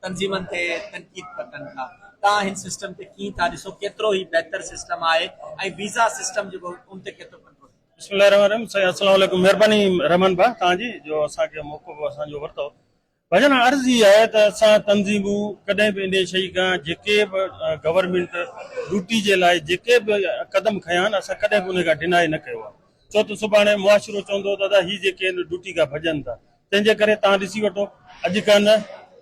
تنظيمن تي تنقيد پيا ڪن ٿا، توهان هن سسٽم تي ڪيئن ٿا ڏسو، ڪيترو هي بهتر سسٽم آهي ۽ ويزا سسٽم جيڪو ان تي ڪيترو ڪنٽرول ٿيندو. بسم الله الرحمٰن الرحيم سائين السلام عليڪم مھرباني رحمان ڀاء توھان جي جو اسان کي موقعو اسان جو ورتو ڀاڄن ھا عرض ھي آھي ته اسان تنظيمون ڪڏھن به انھي شئي کان جيڪي به گورنمينٽ ڊوٽي جي لاء جيڪي به قدم کنيا آھن اسان ڪڏھن به انھي کان ڊينائي نه ڪيو آھي ڇو ته سڀاڻي معاشرو چوندو ته ادا ھي جيڪي ھن ڊوٽي کان ڀڄن ٿا تنهن جي ڪري توهان ڏسي وٺو اڄ کان نه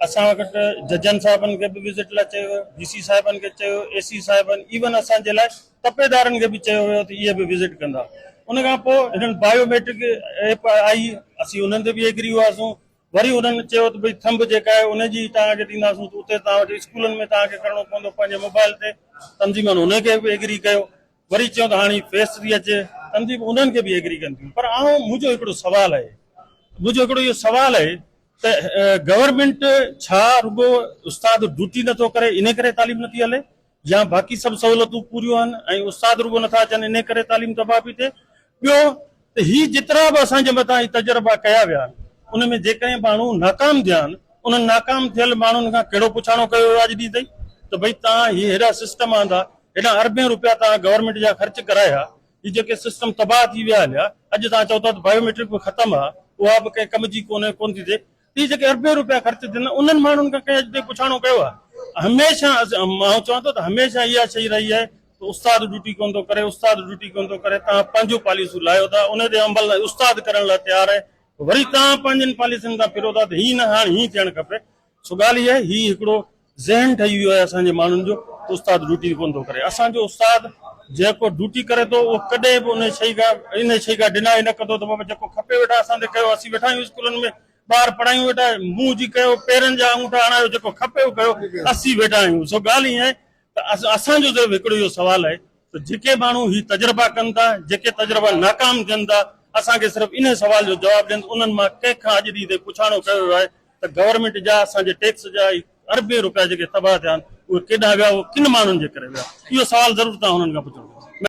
اسان وٽ ججن صاحبن کي به وزٽ لاء چيو ويو، ڊي سي صاحبن کي چيو ويو، اي سي صاحبن ايون اسان جي لاء تپيدارن کي به چيو ويو ته اهي به وزٽ ڪندا. ان کان پوء هنن بايو ميٽرڪ ايپ آئي اسين انهن تي به ايگري هئاسون وري انهن چيو ته ڀئي ٿنب جيڪا آهي ان جي توهان کي ڏينداسون ته اتي توهان وٽ اسڪولن ۾ توهان کي ڪرڻو پوندو پنهنجي موبائل تي تنظيمن ان کي به ايگري ڪيو وري چيو ته هاڻ هي فيس ٿي اچي تنظيمون انهن کي به ايگري ڪن ٿيون پر آئون منهنجو هڪڙو سوال آهي منهنجو هڪڙو اهو سوال آهي ته گورنمينٽ ڇا رڳو استاد ڊوٽي نٿو ڪري انهي ڪري تعليم نٿي هلي يا باقي سڀ سهولتون پوريون آهن ۽ استاد رڳو نٿا اچن انهي ڪري تعليم تباهه پي ٿئي ٻيو ته هي جيترا به اسان جي مٿان هي تجربا ڪيا ويا آهن ان ۾ جيڪڏهن ماڻهو ناڪام ٿيا آهن انهن ناڪام ٿيل ماڻهن کان ڪهڙو پڇاڻو ڪيو ويو آهي اڄ ڏينهن تائين ته ڀئي توهان هي هيڏا سسٽم آندا هيڏا اربين روپيا توهان گورنمينٽ جا خرچ ڪرايا هي جيڪي سسٽم تباهه ٿي ويا هليا اڄ توهان چئو ٿا ته بايوميٽرڪ به ختم آهي اها به ڪنهن ڪم جي ڪونهي ڪونه ٿي ٿئي تي جيڪي اربين رپيا خرچ ٿين انهن ماڻهن کان ڪنهن اڄ تائين پڇاڻو ڪيو آهي؟ هميشه آئون چوان ٿو ته هميشه اها شئي رهي آهي ته استاد ڊيوٽي ڪونه ٿو ڪري استاد ڊيوٽي ڪونه ٿو ڪري توهان پنهنجون پاليسيون لاهيو ٿا ان تي عمل ناهي استاد ڪرڻ لاء تيار آهي وري توهان پنهنجين پاليسين تان ڦرو ٿا ته هي نه هاڻ هيئن ٿيڻ کپي سو ڳالهه اها آهي هي هڪڙو ذهن ٺهي ويو آهي اسان جي ماڻهن جو ته استاد ڊوٽي ڪونه ٿو ڪري اسان جو استاد جيڪو ڊوٽي ڪري ٿو اهو ڪڏهن به انهي شئي کان انهي شئي کان ڊنائي نه ڪندو ته بابا جيڪو کپي ويٺا اسان تي ڪيو اسين ويٺا آهيون اسڪولن ۾ ٻار پڙهايون ويٺا منهن جي ڪيو پيرن جا آڱوٺا هڻايو جيڪو کپي اهو ڪيو اسين ويٺا آهيون سو ڳالهه ائين آهي ته اسان جو صرف هڪڙو اهو سوال آهي ته جيڪي ماڻهو هي تجربا ڪن ٿا جيڪي تجربا ناڪام ٿين ٿا اسان کي صرف انهي سوال جو جواب ڏين ته انهن مان ڪنهن کان اڄ ڏينهن تائين پڇاڻو ڪيو ويو آهي ته گورنمينٽ جا اسان جي ٽيڪس جا اربين روپيا جيڪي تباهه ٿيا آهن اهي ڪيڏانهن ويا اهو ڪن ماڻهن جي ڪري ويا اهو سوال ضرور توهان هنن کان پڇڻ گهرجي.